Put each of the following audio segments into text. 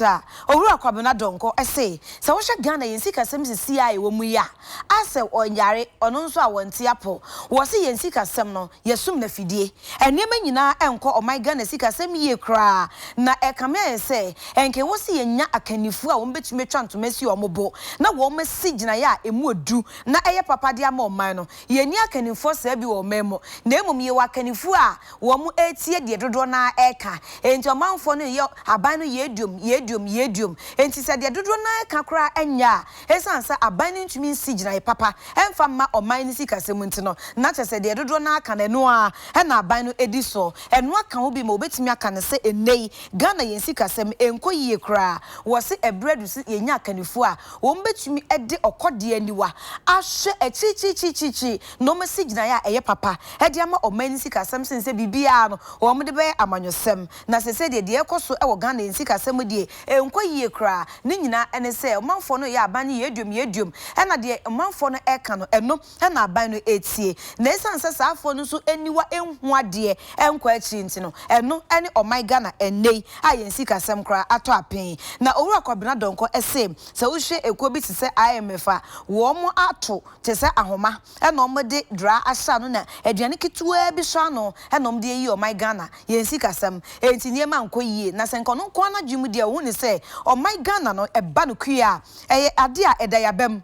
Bra, Owura Kwabena Donkor se, sɛ wohwɛ Ghana yɛn sikasɛm sisi a ɛwɔ mu yi a, Asel ɔnyare, ɔno nso a ɔnte apɔ. Wɔse yɛn sikasɛm no, yɛsom no afidie. Nneɛma nyinaa ɛnkɔ ɔman Ghana sikasɛm yie koraa na ɛkame ayɛ sɛ ɛnka ɛwɔ sɛ yɛnya akannifoɔ a wɔbɛtumi atwa ntoma asi wɔn bo na wɔasi gyinaeɛ a ɛmu ɔdu na ɛyɛ papa de ama ɔman no. Yɛnni akannifoɔ saa bi wɔ ɔman mu na mmom yɛwɔ akannifoɔ a Wɔretie deɛ dodoɔ no ara reka. Enti ɔmanfoɔ no reyɛ aban no yɛɛduom, yɛɛduom, yɛɛduom. Enti sɛ deɛ dodoɔ no ara reka koraa nyɛ a, ɛsiane sɛ aban no ntumi nsi gyinaeɛ papa mfa mma ɔman no sikasɛm nti no, na kyerɛ sɛ deɛ dodoɔ no ara ka no, ɛno ara na aban no di soɔ. Ɛno aka ho bi ma wɔbɛtumi aka no sɛ ɛnnɛ yi Ghana yɛn sikasɛm nkɔ yie koraa. Wɔse ɛberɛ adu sɛ yɛnya akannifoɔ a wɔbɛtumi de ɔkɔdeɛ aniwa ahwɛ akyirikyirikyirikyirikyiri na wɔasi gyinae a ɛyɛ papa de ama ɔman no sikasɛm sen sɛ biribiara no wɔde bɛyɛ amanyɔsɛm. Na sɛsɛ deɛ, deɛ ɛrekɔ so wɔ Ghana yɛn sikasɛm mu deɛ, ɛnkɔ yie koraa. Ne nyinaa ne sɛ, ɔmanfoɔ no reyɛ aban no yɛaduom yɛaduom, ɛna deɛ ɔmanfoɔ no reka no, ɛno na aban no retie. Na ɛsiane sɛ saa afoɔ no nso aniwa nhu adeɛ nkɔ akyiri nti no, ɛno ne ɔman Ghana ɛnnɛ yi a yɛn sikasɛm koraa atɔ apen. Na Owura Kwabena Donkor se, sɛ wohwɛ ekuo bi te sɛ IMF a, wɔato. te sɛ ahoma na ɔmo de dura ahyɛ ano na aduane ketewaa bi sɔ ano na ɔmo de ayi ɔman Ghana, yɛn sikasɛm nti nneɛma nkɔ yie na sɛ nka ɔno nko ara n'adwene mu deɛ ɔhu ne sɛ ɔman Ghana no ɛba no kue a ɛyɛ adeɛ a ɛda y'abam.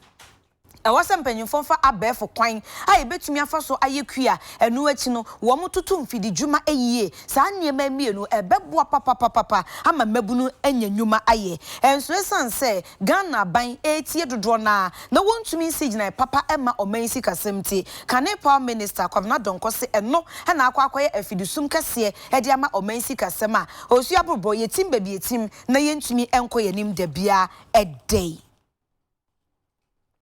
Ɛwɔ sɛ mpanyinfoɔ fa abɛɛfo kwan a yɛbɛtumi afa so ayɛ kue a ɛno akyi no wɔn toto mfidi dwuma yie, saa nneɛma yi mmienu ɛbɛboa papapapapa ama mmabunu anya nnwuma ayɛ nso ɛsiane sɛ Ghana aban retie dodoɔ no ara na wɔntumi nsi gyinae papa mma ɔman yi sikasɛm nti, kane power minister Kwabena Donkor se ɛno na akɔ akɔyɛ afidisum kɛseɛ de ama ɔman yi sikasɛm a osuo aborobɔ, yɛtim baabi yɛtim na yɛntumi nkɔ yɛn anim dabiara dɛi.